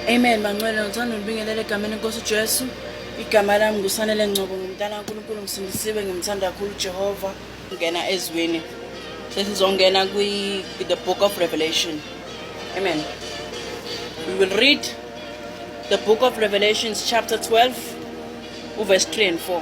Amen bangcwele ngithanda ulibingelela egameni enkosi uJesu igama lami ngusanele ngcobo ngumntana kaNkulunkulu ngisindisiwe ngimthanda kakhulu uJehova ngena ezweni sesizongena kwi the book of revelation amen we will read the book of revelations chapter 12 uverse 3 and 4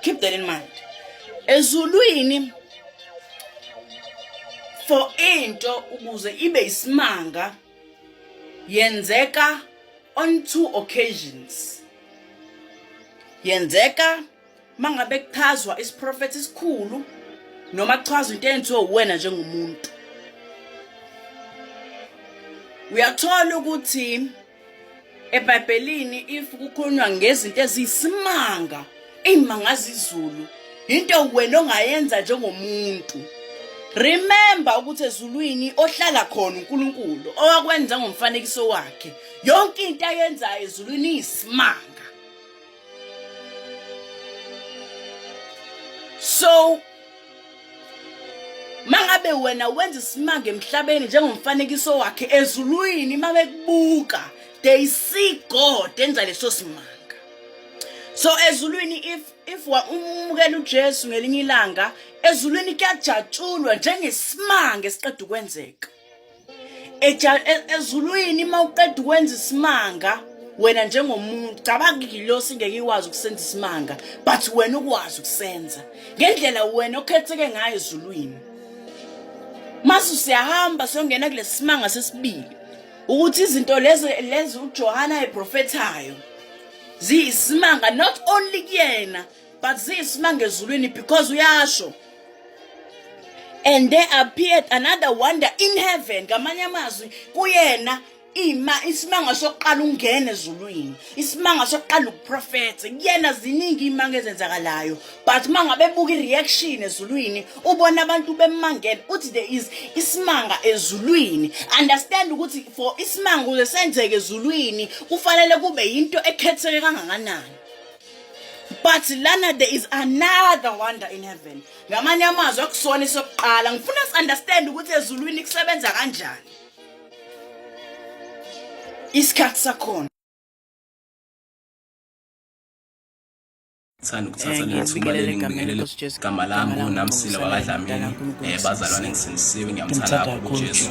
keep that in mind ezulwini for into ukuze ibe isimanga yenzeka on two occasions yenzeka mangabe kuchazwa isiprofethi esikhulu noma kuchazwa into eyenziwe uwena njengomuntu uyathola ukuthi ebhayibhelini if kukhulunywa ngezinto eziyisimanga iyimangaza izulu into wena ongayenza njengomuntu remember ukuthi ezulwini ohlala khona uNkulunkulu owakwenza ngomfanekiso wakhe yonke into ayenzayo ezulwini iyisimanga so mangabe wena wenza isimanga emhlabeni njengomfanekiso wakhe ezulwini uma bekubuka they see god enza leso simanga so ezulwini if if umukela ujesu ngelinye ilanga ezulwini kuyajatshulwa njengesimanga esiqeda ukwenzeka E-, ezulwini uma uqeda ukwenza isimanga wena njengomuntu cabanga igilosi ngeke ikwazi ukusenza isimanga but wena ukwazi ukusenza ngendlela wena okhetheke ngayo ezulwini masu siyahamba siyongena kulesimanga sesibili ukuthi izinto lezi lezi uJohana eprofethayo ziyisimanga not only kuyena but siyisimanga ezulwini because uyasho and there appeared another wonder in heaven ngamanye amazwi kuyena ima isimanga sokuqala ungena ezulwini isimanga sokuqala ukuprofetha kuyena ziningi imanga ezenzakalayo but mangabe buka ireaction ezulwini ubona abantu bemangele uthi there is isimanga ezulwini understand ukuthi for isimanga uze senzeke ezulwini kufanele kube yinto ekhetheke kangakanani but lana there is another wonder in heaven ngamanye amazwi akusona isokuqala ngifuna si-understand ukuthi ezulwini kusebenza kanjani isikhathi sakhona sithanda ukuthatha leli thuba leli ngibingelele igama lami kunamsila wakadlamini um bazalwane ngisindisiwe ngiyamthanda kakhulu ujesu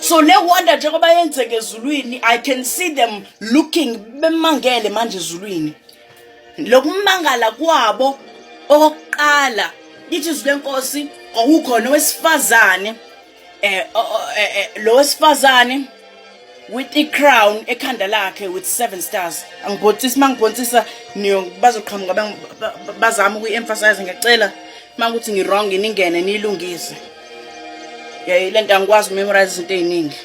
so ne wonder njengoba yenzeke ezulwini i can see them looking bemangele manje ezulwini lokumangala kwabo okokuqala lithi izwi lenkosi kwakukhona owesifazane eh, eh, eh lo wesifazane with i-crown ekhanda lakhe with seven stars angibhontisa uma ngibhontisa bazoqhamuka bazama ukuyi-emphasize ngiyacela uma ukuthi ngi-wrong ningene niyilungise yayi le nto angikwazi ukumemorize izinto ey'ningi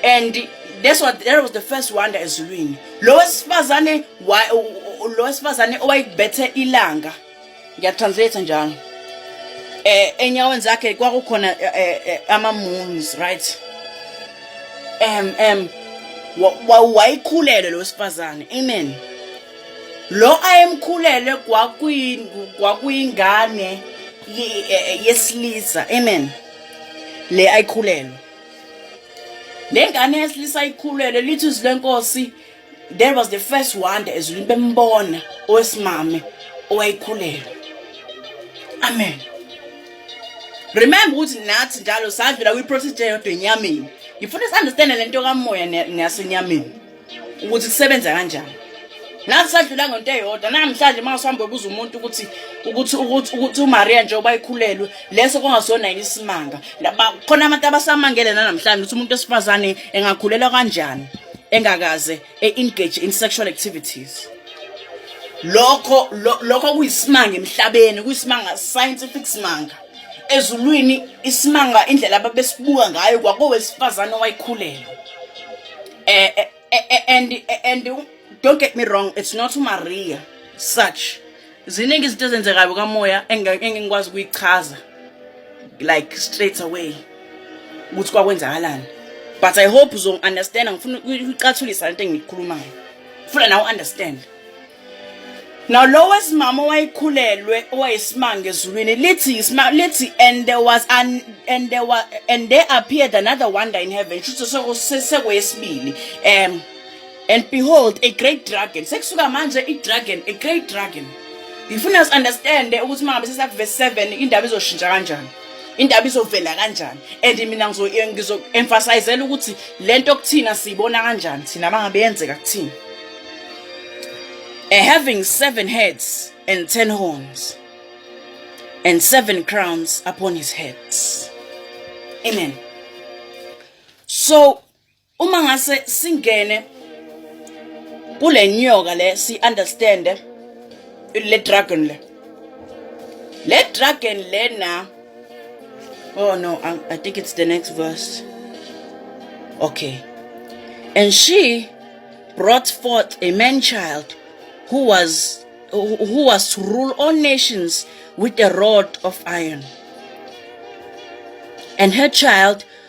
and that's what that was the first wonder ezulwini lo wesifazane lo wesifazane owayekubethe ilanga ngiyatranslate njalo eh enyaweni zakhe kwakukhona eh, eh, eh, ama moons right em em wayikhulele lo sifazane amen lo ayemkhulele kwakuyingane yesilisa amen le ayikhulelwe le ngane yesilisa ayikhulelwe lithi izwi lenkosi There was the first wonder ezulwini bembona owesimame owayikhulelwa. Amen. Remember ukuthi nathi njalo savela kwi-process eyodwa enyameni. Ngifuna si-understande le nto kamoya neyasenyameni ukuthi kusebenza kanjani. Nathi sadlula ngento eyodwa namhlanje uma usuhambe ubuza umuntu ukuthi ukuthi ukuthi ukuthi uMaria nje obayikhulelwe leso kungasona yini isimanga. Khona abantu abasamangele nanamhlanje ukuthi umuntu wesifazane engakhulelwa kanjani. engakaze e-engage in sexual activities lokho lokho kuyisimanga emhlabeni kuyisimanga scientific simanga ezulwini isimanga indlela ababesibuka ngayo kwakowesifazane owayikhulelwa eh, eh, eh, eh and eh, and don't get me wrong it's not umaria such ziningi izinto ezenzekayo kamoya engingikwazi ukuyichaza like straight away ukuthi kwakwenzakalani but i hope uzongi-understanda ngifuna ukucathulisa lento engiyikhulumayo funa nawe understand Now lo wesimama owayikhulelwe owayisimanga ezulwini lithi lithi and there was an and there was and there appeared another wonder in heaven kusho ukuthi sekwesibili um And behold, a great dragon. Sekusuka manje i-dragon, a great dragon. Ngifuna si-understande ukuthi uma ngabe sesakuvesi 7 indaba izoshintsha kanjani. Indaba izovela kanjani. And mina ngizo-emphasizela ukuthi le nto kuthina siyibona kanjani thina uma ngabe yenzeka kuthina. And having seven heads and ten horns and seven crowns upon his heads. Amen. So uma ngase singene kule nyoka le si understand le dragon le le dragon lena oh no I, I think it's the next verse okay and she brought forth a man child who was who was to rule all nations with a rod of iron and her child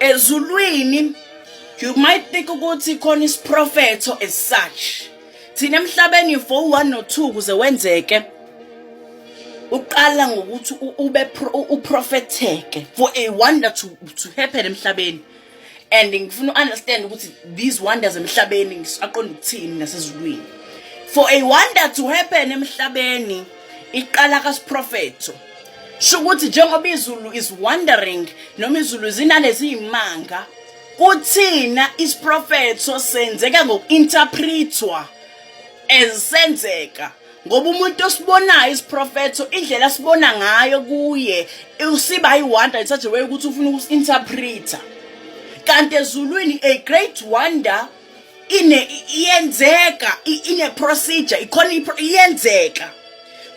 ezulwini you might think ukuthi khona isiprofetho as such thina emhlabeni for one no two kuze wenzeke uqala ngokuthi ube uprofetheke for a wonder to to happen emhlabeni and ngifuna uunderstand ukuthi these wonders emhlabeni ngisaqonda ukuthini nasezulwini for a wonder to happen emhlabeni iqala kasiprofetho shukuthi njengoba izulu is wandering noma izulu zinalezi imanga kuthina isiprofetho senzeka ngokuinterpretwa ezisenzeka ngoba umuntu osibonayo isiprofetho indlela sibona ngayo kuye usiba iwonder in such a way ukuthi ufuna ukusinterpreter kanti ezulwini a great wonder ine iyenzeka ine procedure ikhona iyenzeka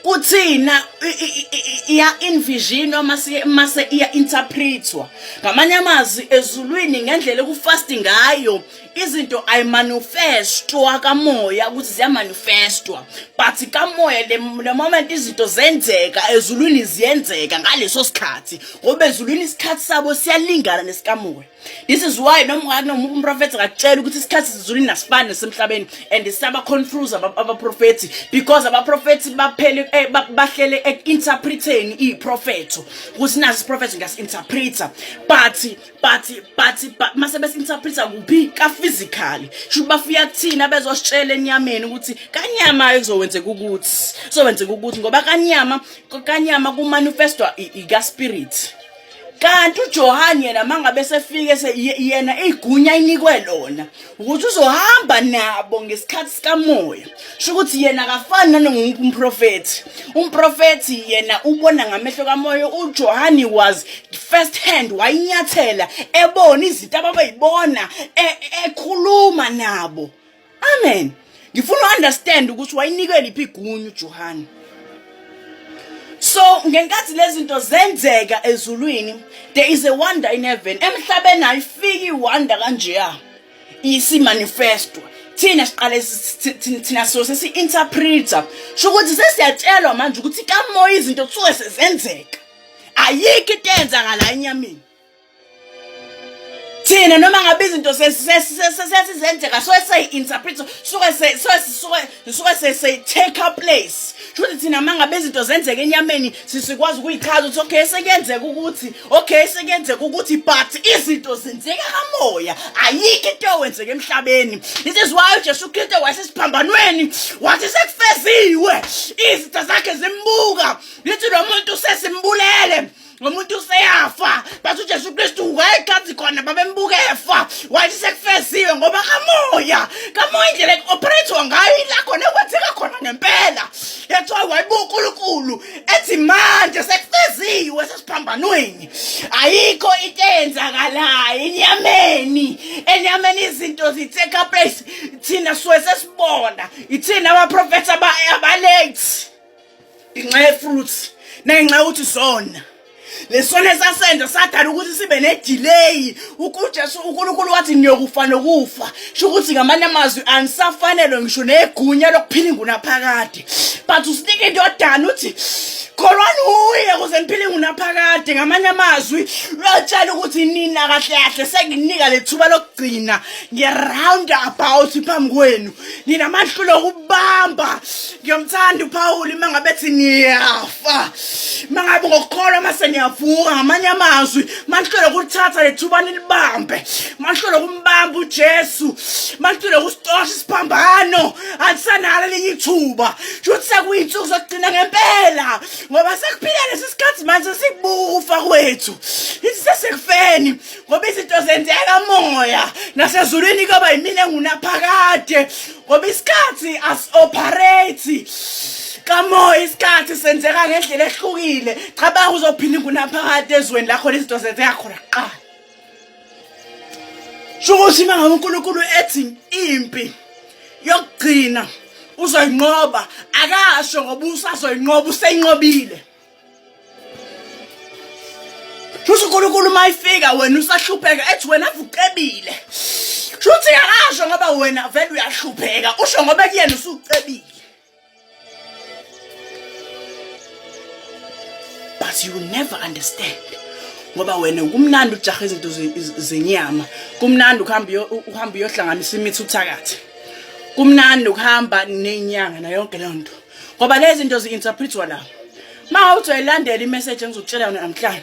kuthina iya envision uma siye mase iya interpretwa ngamanye amazwi ezulwini ngendlela ukufast ngayo izinto ay manifestwa kamoya ukuthi ziya manifestwa but kamoya le moment izinto zenzeka ezulwini ziyenzeka ngaleso sikhathi ngoba ezulwini isikhathi sabo siyalingana nesikamoya this is why noma unganoma umprofethi akatshela ukuthi isikhathi sizulu inasibani nasemhlabeni and siyabaconfuse abaprofethi because abaprofethi baphele eh, bahlele eku-interpreteni iy'profetho ukuthi nazi isiprofetho ngiyasi-interpreta but but but mase besi-interpreta kuphi ka-physically shuthi bafika kuthina bezositshela enyameni ukuthi kanyama kuzokwenzeka ukuthi kuzokwenzeka ukuthi ngoba kanyama kanyama kumanifestwa ikaspirit kanti uJohane yena mangabe sefike yena igunya inikwe lona ukuthi uzohamba nabo ngesikhathi sikamoya sho ukuthi yena akafani nanonke umprofethi umprofethi yena ubona ngamehlo kamoya uJohane was first hand wayinyathela ebona izinto ababeyibona e, ekhuluma nabo Amen. Ngifuna uunderstand ukuthi wayinikela iphi igunyu uJohane. So ngenkathi lezinto zenzeka ezulwini there is a wonder in heaven. Emhlabeni ayifiki iwonder kanjeya. Isimanifestwa. thina siqale thina so sesi interpreter sho ukuthi sesiyatshelwa manje ukuthi kamoya izinto kusuke sezenzeka ayikho into eyenzakala enyameni thina noma ngabe izinto sesizenzeka so seyi-interpret suke suke sesitake our place shuthi thina uma ngabe izinto zenzeka enyameni sisikwazi ukuyichaza ukuthi okay sekuyenzeka ukuthi okay sekuyenzeka ukuthi but izinto zenzeka kamoya ayikho into ewenzeka emhlabeni this is why ujesu kristu wasesiphambanweni wathi sekufeziwe izinto zakhe zimbuka lithi lo muntu sesimbulele umuntu useyafa but ujesu kristu wayexhansi khona babembuka efa wathi sekufeziwe ngoba kamoya kamoya indlela ekuoperate-wa ngayo ila khona ekwenzeka khona ngempela that's why wayebuka unkulunkulu ethi manje sekufeziwe sesiphambanweni ayikho into eyenzakalayo enyameni enyameni izinto zitake place thina suke sesibona ithina abaprofetha abalate ngenxa yefruits nangenxa yokuthi sona lesona esasenza sadala ukuthi sibe nedelay ukujesu unkulunkulu wathi niyokufa nokufa sho ukuthi ngamanye amazwi anisafanelwe ngisho negunya lokuphila ingunaphakade but usinika into yodana uthi kholwani uye kuze niphile ingunaphakade ngamanye amazwi lwatshela ukuthi nina kahle kahle senginika lethuba lokugcina nge-round about phambi kwenu ninamahlulo okubamba ngiyomthanda uphawuli uma ngabe ethi niyafa uma ngabe ngokukholwa uma seniyavuka ngamanye amazwi manihlole kulithatha lethuba nilibambe manihlole kumbamba ujesu manihlole kusitosha isiphambano andisanalo elinye ithuba shuthi sekuyinsuku zokugcina ngempela ngoba sekuphila lesi sikhathi manje sikubufa kwethu ithi sesekufeni ngoba izinto zenzeka moya nasezulwini kuyoba yimina engunaphakade ngoba isikhathi asi-operate kamoya isikhathi senzeka ngendlela ehlukile cabanga uzophinda ingunaphakade ezweni lakho nezinto zenzeka khona kuqala sho ukuthi uma ngabe unkulunkulu ethi impi yokugcina uzoyinqoba akasho ngoba usazoyinqoba useyinqobile Shuthi uNkulunkulu uma ifika wena usahlupheka ethi wena vucebile. Shuthi akasho ngoba wena vele uyahlupheka usho ngoba kuyena usucebile. But you will never understand. ngoba wena kumnandi ujaha izinto zenyama kumnandi ukuhamba uhamba uyohlanganisa imithi uthakathi kumnandi ukuhamba nenyanga nayo yonke leyo nto ngoba lezi zinto zi-interpretwa la ma uthi uyayilandela imessage engizokutshela yona namhlanje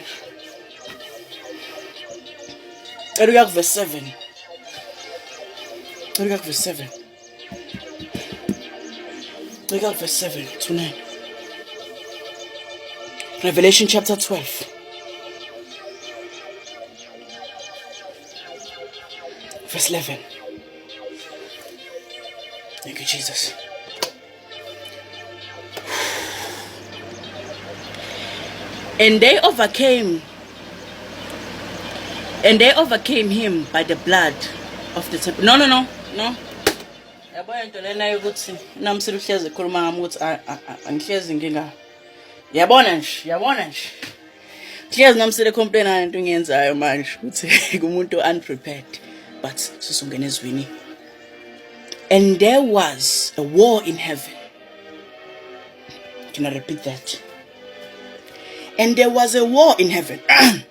cela uya kuverse seven cela uya kuverse seven cela uya kuverse seven to nine revelation chapter 12 verse 11. Thank you, Jesus. And they overcame and they overcame him by the blood of the temple. No, no, no, no. yabo into lena yokuthi namsile uhlezi ekhuluma ngami ukuthi angihlezi nginga yabona nje yabona nje Cheers nomsile complain ngani into ngiyenzayo manje ukuthi kumuntu unprepared but sisongena ezwini and there was a war in heaven can i repeat that and there was a war in heaven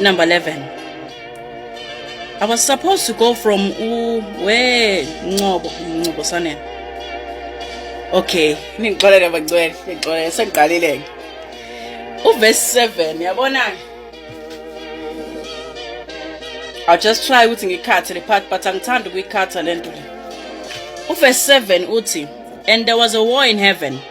number 11 I was supposed to go from u we Ncobo Ncobo Sanela okay ningixolele bagcwele ningixolele sengiqalile ke uverse 7 yabona I'll just try ukuthi ngikhathe le part but angithandi ukuyikhatha lento le uverse 7 uthi and there was a war in heaven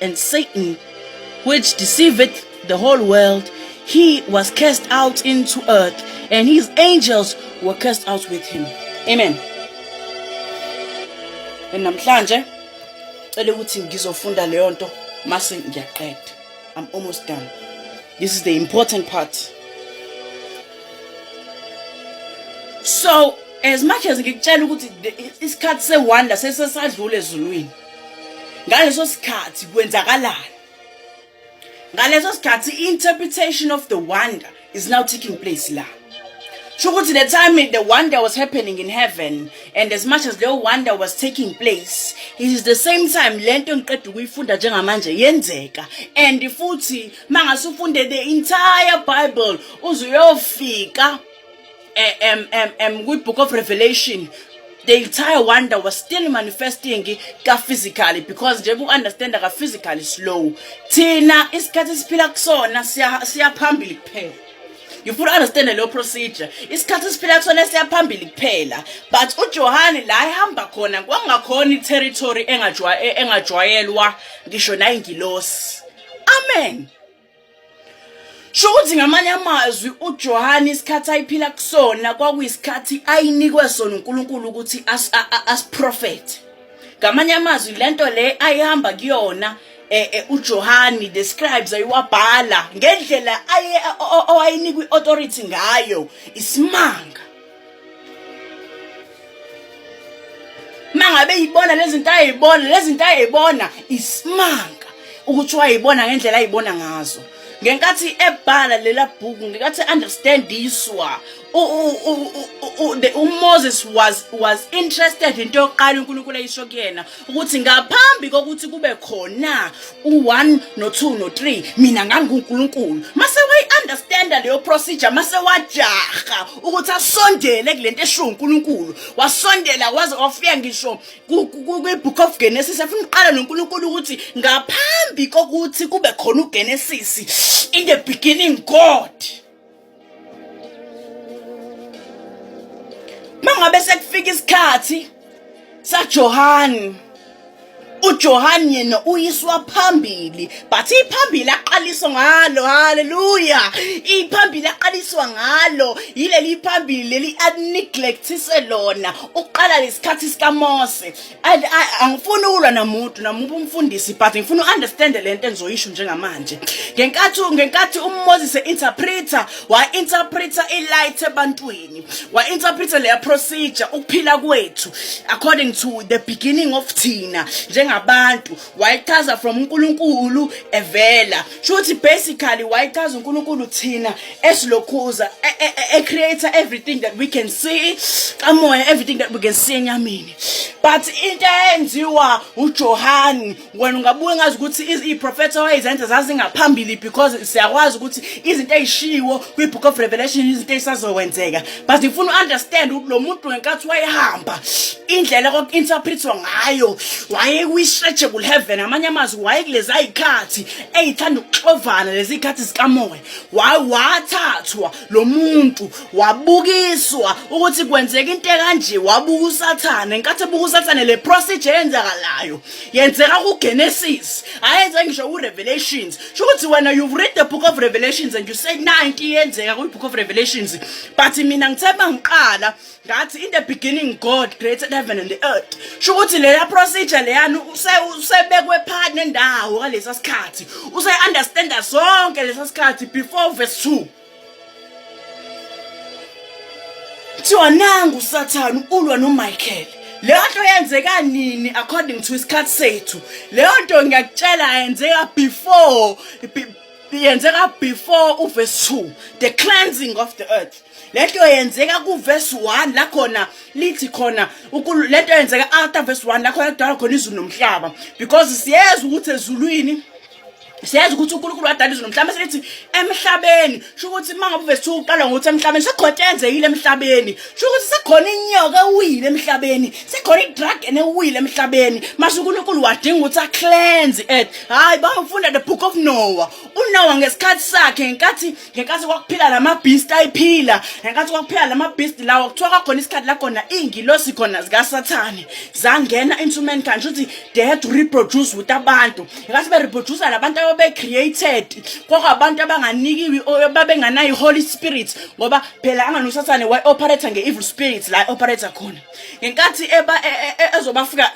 And Satan, which deceiveth the whole world, he was cast out into earth, and his angels were cast out with him. Amen. And namhlanje cela ukuthi ngizofunda leyo nto mase ngiyaqeda. I'm almost done. This is the important part. So as much as ngikutshela ukuthi isikhathi sewonder sesesadlule ezulwini ngaleso sikhathi kwenzakalani ngaleso sikhathi interpretation of the wonder is now taking place la sho ukuthi the time the wonder was happening in heaven and as much as leyo wonder was taking place it is the same time le nto engiqeda ukuyifunda njengamanje yenzeka and futhi uma ngase ufunde the entire bible uze uyofika eh, um, um, um, kwi-book of revelation the entire wonder was still manifesting ka-physically because njengoba u-understanda ka-physically slow thina isikhathi esiphila kusona siyaphambili kuphela you full understand leyo procedure isikhathi esiphila kusona siyaphambili kuphela but ujohane la ehamba khona kwangakhona i-territory e-, engajwayelwa ngisho nayingilosi amen Sho ukuthi ngamanye amazwi uJohane isikhathi ayiphila kusona kwakuyisikhathi ayinikwe sona uNkulunkulu ukuthi asiprofethe. Ngamanye amazwi lento le ayihamba kuyona eh, eh uJohane the scribes ayiwabhala ngendlela aye owayinikwa iauthority ngayo isimanga. mangabe yibona lezinto ayibona lezinto ayibona isimanga ukuthi wayibona ngendlela ayibona ngazo ngenkathi ebhala lela bhuku ngikathi understand iswa uMoses was was interested into yokuqala uNkulunkulu ayisho kuyena ukuthi ngaphambi kokuthi kube khona u1 no2 no3 mina nganguNkulunkulu mase wayi understand leyo procedure mase wajaha ukuthi asondele kulento esho uNkulunkulu wasondela waze wafika ngisho kwibook of Genesis afuna uqala noNkulunkulu ukuthi ngaphambi kokuthi kube khona uGenesis in the beginning God mangabe sekufika isikhathi saJohani uJohane yena uyiswa phambili but iphambili aqaliswa ngalo haleluya iphambili aqaliswa ngalo yileli phambili leli aneglect lona uqala lesikhathi sikaMose angifuni ukulwa namuntu namuntu umfundisi but ngifuna uunderstand le nto engizoyisho njengamanje ngenkathi ngenkathi uMoses interpreter wa interpreter ilight ebantwini wa interpreter leya procedure ukuphila kwethu according to the beginning of thina njengabantu wayichaza from uNkulunkulu evela shuthi basically wayichaza uNkulunkulu thina esilokhuza e, e, e, e creator everything that we can see kamoya everything that we can see enyameni but into eyenziwa uJohani wena ungabuye ngazi ukuthi iprofetho wayezenza zazingaphambili because siyakwazi ukuthi izinto ezishiwo kwibook of revelation izinto ezisazokwenzeka but ngifuna uunderstand ukuthi lo muntu ngenkathi wayehamba indlela koku-interpretwa ngayo wayekwi-stretchable heaven amanye amazwi wayekulezi ayikhathi eyithanda ukuxovana lezi khathi zikamoya wathathwa lo muntu wabukiswa ukuthi kwenzeka into ekanje wabuka usathane nkathi ebuka usathane le procedure yenzakalayo yenzeka kugenesis ayenze ngisho kurevelations sho ukuthi wena you've read the book of revelations and you say 90 yenzeka kwi-book of revelations but mina ngithe uma ngiqala That in the beginning God created heaven and the earth. Sho ukuthi leya procedure leyani use usebekwe phakathi nendawo ngalesa sikhathi. Use understand sonke lesa sikhathi before verse 2. Kuthiwa nangu uSathane ulwa noMichael. Leyo nto yenzeka nini according to isikhathi sethu. Leyo nto ngiyakutshela yenzeka before yenzeka before uverse 2 the cleansing of the earth lento yenzeka kuverse 1 la khona lithi khona lento yenzeka after verse 1 la khona kudala khona izulu nomhlaba because siyeza ukuthi ezulwini siyazi ukuthi uNkulunkulu wadala izulu mhlawumbe selithi emhlabeni sho ukuthi uma ngabe uvese uqala ngokuthi emhlabeni sekhothi enzekile emhlabeni sho ukuthi sekhona inyoka ewile emhlabeni sekhona idragon ewile emhlabeni masho uNkulunkulu wadinga ukuthi acleanse it hayi bangifunda the book of Noah uNoah ngesikhathi sakhe ngenkathi ngenkathi kwakuphila lamabeast ayiphila ngenkathi kwakuphila lamabeast lawo kuthiwa kwakhona isikhathi la khona ingilosi khona zika sathane zangena into mankind ukuthi they had to reproduce with abantu ngenkathi be reproduce labantu ababe created kwakwabantu abanganikiwe babenganayi holy spirit ngoba phela angani usathane waye operator nge-evil spirits la operator khona ngenkathi eba e, e, e, ezobafika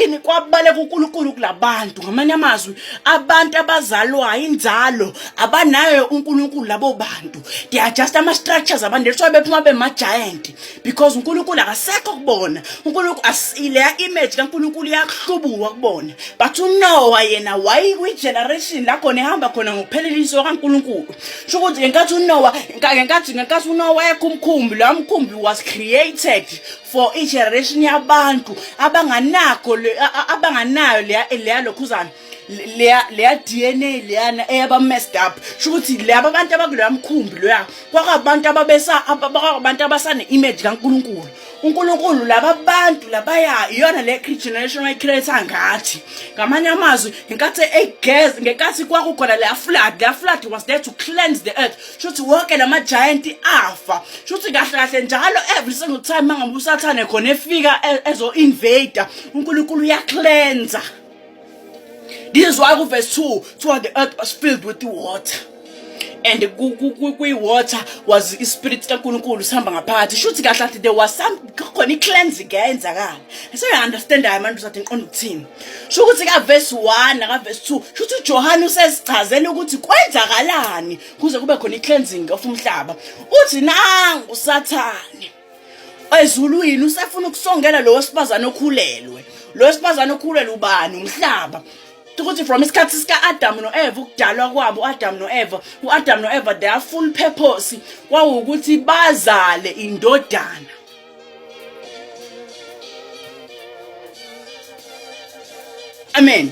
ini kwabaleka uNkulunkulu kulabantu ngamanye amazwi abantu abazalwayo inzalo abanayo uNkulunkulu labo bantu they are just ama structures abantu that's why bephuma bema giant because uNkulunkulu akasekho kubona uNkulunkulu asile image kaNkulunkulu iyakuhlubuka kubona but uNoah yena wayi kwi generation la khona ehamba khona ngokuphelelisa kaNkulunkulu sho ukuthi ngenkathi unowa ngenkathi ngenkathi unowa ekho umkhumbi loya mkhumbi was created for igeneration yabantu abanganakho abanganayo leya leya lokhuzana leya leya DNA leyana eyaba messed up sho ukuthi laba abantu abakuloya mkhumbi loya kwakabantu ababesa abantu abasane image kaNkuluNkulu uNkulunkulu laba bantu labaya iyona le generation ayicreate ngathi ngamanye amazwi ngenkathi egez ngenkathi kwakukhona le flood le flood was there to cleanse the earth shuthi wonke lama giant afa shuthi kahle kahle njalo every single time mangabe usathane khona efika e, ezo invader uNkulunkulu uya cleanser This is why verse 2 so the earth was filled with the water. and kwi-water was ispirit kankulunkulu sihamba ngaphakathi shuthi kahle athi there was some khona i-cleansing eyenzakala seyi-understandayo manje uzathi ngiqonda ukuthini sho ukuthi kavesi one nakavesi two sho ukuthi ujohane usesichazela ukuthi kwenzakalani kuze kube khona i-cleansing of umhlaba uthi nangu usathane ezulwini usefuna ukusongela lo wesifazane okhulelwe lo wesifazane okhulelwe ubani umhlaba ukuthi from isikhathi sika-adamu no-eva ukudalwa kwabo u-adamu no-eva u-adamu no-eva their full purpose kwawukuthi bazale indodana amen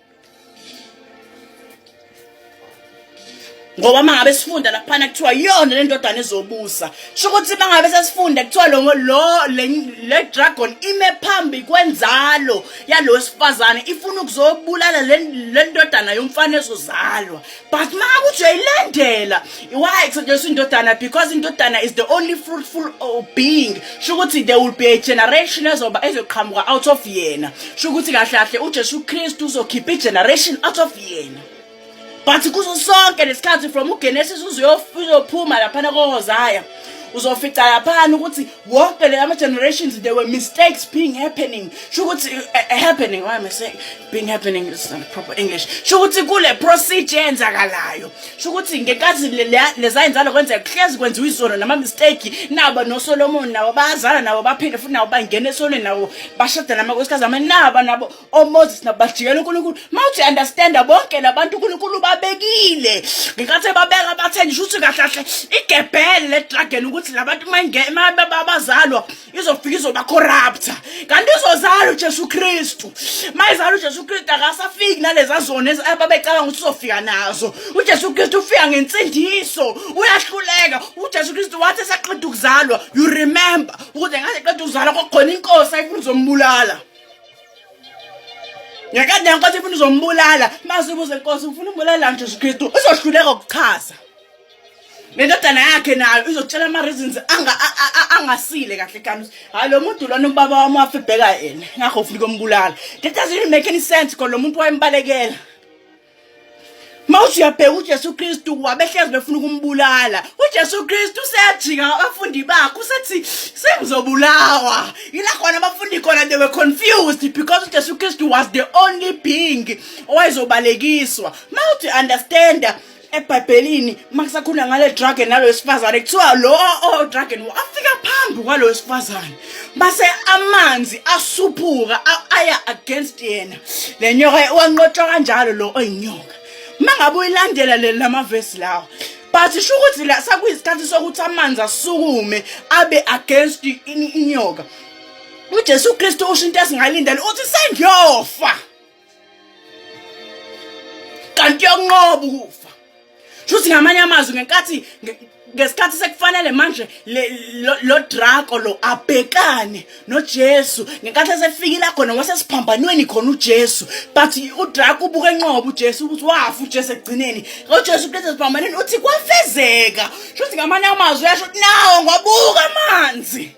ngoba mangabe sifunda laphana kuthiwa yona le ndodana ezobusa sho ukuthi mangabe sesifunda kuthiwa lo le dragon ime phambi kwenzalo yalo wesifazane ifuna ukuzobulala le ndodana yomfana ezozalwa but maka ujoyilandela why kusetshenziswa indodana because indodana is the only fruitful oh, being sho ukuthi there will be a generation ezoba ezoqhamuka out of yena sho ukuthi kahle kahle ujesu kristu uzokhipha igeneration out of yena but kuzo sonke lesikhathi from ugenesis uzoyophuma laphana kohozaya uzofica laphana ukuthi wonke le ama-generations there were mistakes being happening sho ukuthi uh, uh, happening why am i saying being happening is not proper english sho ukuthi kule procedure enzakalayo sho ukuthi ngenkathi lezayenzalo kwenzeka kuhlezi kwenziwa izono nama-mistake naba nosolomoni nabo bayazala nabo baphinde futhi nabo bangena esonweni nabo bashada namakosikazi ama naba nabo omoses oh, nabajikela unkulunkulu uma uthi understanda bonke labantu unkulunkulu babekile ngenkathi ebabeka bathe ngisho ukuthi kahle kahle igebhele le dragon ukuthi labantu babazalwa izofika izobacorrupta kanti izozala ujesu kristu uma izala ujesu kristu akasafiki naleza zona ababecabanga ukuthi uzofika nazo ujesu kristu ufika ngensindiso uyahluleka ujesu kristu wathi esaqeda ukuzalwa you remember ukuze ngaze qeda ukuzalwa kwakhona inkosi ayifuna uzombulala ngekade nkosi ifuna uzombulala masibuze nkosi ufuna umbulala njesu kristu uzohluleka ukuchaza nendodana yakhe nayo izokutshela ama-reasons angasile kahle kanti hhayi lo muntu lona ubaba wami wafe bheka yena ngakho ufuna ukombulala that doesn't make any sense kodwa lo muntu wayembalekela mawuthi uyabheka uJesu Kristu wabehlezi befuna ukumbulala uJesu Kristu useyajika abafundi bakhe usethi sengizobulawa yila khona abafundi khona they were confused because uJesu Kristu was the only being owayezobalekiswa mawuthi understand ebhayibhelini uma kusakhuluma ngale dragon nalo wesifazane kuthiwa lo odragon oh, oh, afika phambi kwalo wesifazane base amanzi asuphuka aya against yena le nyoka wanqotshwa kanjalo lo oyinyoka uma ngabe uyilandela leli lamavesi lawa but sho ukuthi la sakuyisikhathi sokuthi amanzi asukume abe against inyoka ujesu kristu usho into esingalindela uthi sengiyofa kanti yonqoba ukufa shuthi ngamanye amazwi ngenkathi ngesikhathi sekufanele manje lo drago lo abhekane noJesu ngenkathi esefikile khona wasesiphambanweni khona uJesu but udrago ubuke enqobo uJesu ukuthi wafa uJesu ekugcineni uJesu kulethe siphambanweni uthi kwafezeka shuthi ngamanye amazwi yasho nawo ngobuka amanzi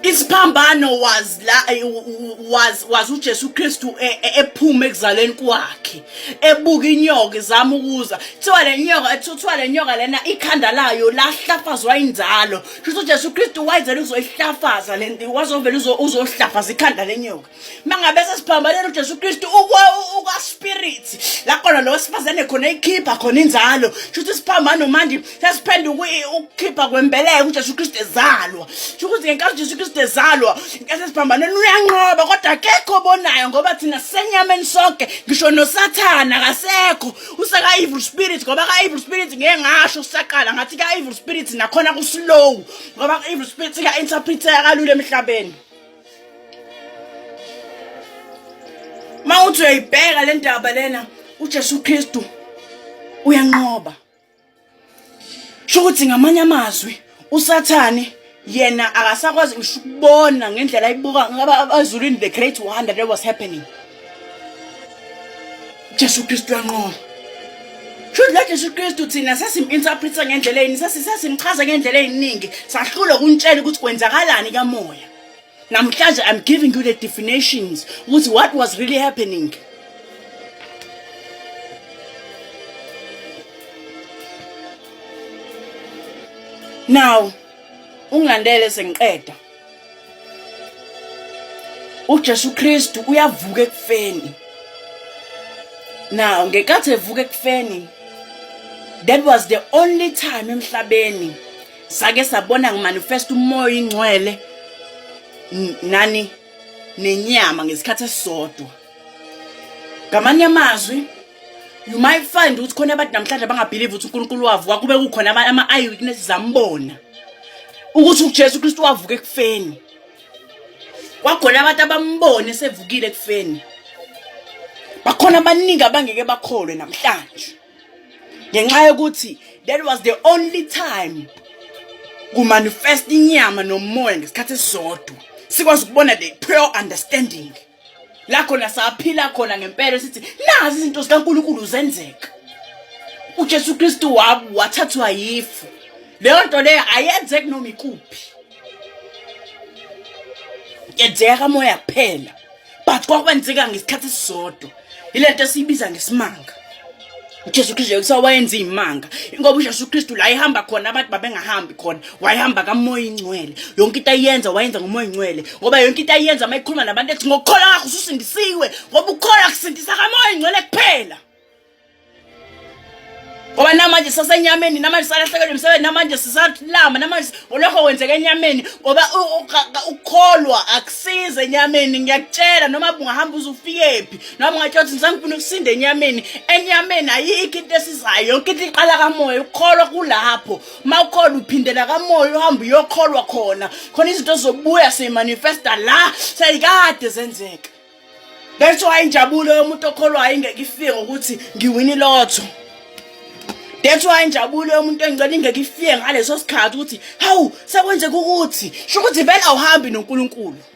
isiphambano was la eh, was was uJesu Kristu eh, eh, ephuma ekuzaleni kwakhe ebuka inyoka izama ukuza kuthiwa le nyoka kuthiwa le nyoka lena ikhanda layo lahlafazwa inzalo kusho uJesu Kristu wayezela uzoyihlafaza lento wazovela uzohlafaza ikhanda lenyoka mangabe sesiphambanela uJesu Kristu ukwa spirit la khona lo sifazane khona ikhipha khona inzalo shuthi siphambana manje sesiphenduka ukukhipha kwembeleko uJesu Kristu ezalwa shukuthi ngenkathi uJesu Kristu ezalwa ngenkathi sesiphambanela uyanqoba kodwa akekho obonayo ngoba thina senyameni sonke ngisho nosathana kasekho useka evil spirit ngoba ka evil spirit ngeke ngasho usaqala ngathi ka evil spirit nakhona kuslow ngoba evil spirit ka interpreter kalula emhlabeni mawuthi uyayibheka le ndaba lena uJesu Kristu uyanqoba sho ukuthi ngamanye amazwi usathane yena akasakwazi ngisho ukubona ngendlela ayibuka ngaba abazulwini the great wonder that was happening Jesu Kristu yanqoba Shuthi la Jesu Kristu thina sesim-interpreta ngendlela eyini sesimchaza ngendlela eyiningi sahlulwa kuntshela ukuthi kwenzakalani kamoya namhlanje I'm giving you the definitions ukuthi what was really happening now ungilandele sengiqeda uJesu Kristu uyavuka ekufeni now ngenkathi evuka ekufeni that was the only time emhlabeni sake sabona ngimanifest umoya ingcwele nani nenyama ngesikhathi esisodwa ngamanye amazwi you might find ukuthi khona abantu namhlanje abangabhilive ukuthi uNkulunkulu wavuka kube kukhona ama eyewitnesses ambona ukuthi uJesu Kristu wavuka ekufeni kwakhona abantu abambone sevukile ekufeni bakhona abaningi abangeke bakholwe namhlanje ngenxa yokuthi that was the only time kumanifest inyama nomoya ngesikhathi esisodwa sikwazi ukubona the pure understanding la khona saphila khona ngempela sithi nazi izinto zikaNkulunkulu zenzeka uJesu Kristu wabu wathathwa yifu leyo nto leyo ayenzeki noma ikuphi yenzeka kamoya kuphela but kwakwenzeka ngesikhathi esisodwa ile nto esiyibiza ngesimanga uJesu Kristu kuthiwa wayenza iy'manga ingoba uJesu Kristu la ehamba khona abantu babengahambi khona wayehamba kamoya ingcwele yonke into ayenza wayenza ngomoya ingcwele ngoba yonke into ayenza uma ekhuluma nabantu ethi ngokukholwa kwakho ususindisiwe ngoba ukukholwa kusindisa kamoya ingcwele kuphela ngoba namanje sasenyameni namanje salahlekelwe umsebenzi namanje sisalama namanje olokho kwenzeka enyameni ngoba ukukholwa akusize enyameni ngiyakutshela noma bungahamba uzufikephi nami ngatshela ukuthi ngisangifuna ukusinda enyameni enyameni ayikho into esizayo yonke into iqala kamoya ukholwa kulapho uma ukholwa uphindela kamoya uhamba uyokholwa khona khona izinto zobuya simanifesta la seyikade zenzeka that's why injabulo yomuntu okholwayo ingeke ifike ngokuthi ngiwini lotho that's why injabulo yomuntu engicela ingeke ifike ngaleso sikhathi ukuthi hawu sekwenzeka ukuthi sho ukuthi vele awuhambi nonkulunkulu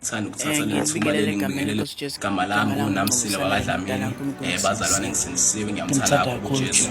Ngithanda ukuthatha eh, leli thuba leli ngibingelele igama lami nguNamsile wakadlamini um eh, bazalwane ngisindisiwe ngiyamthanda kakhulu uJesu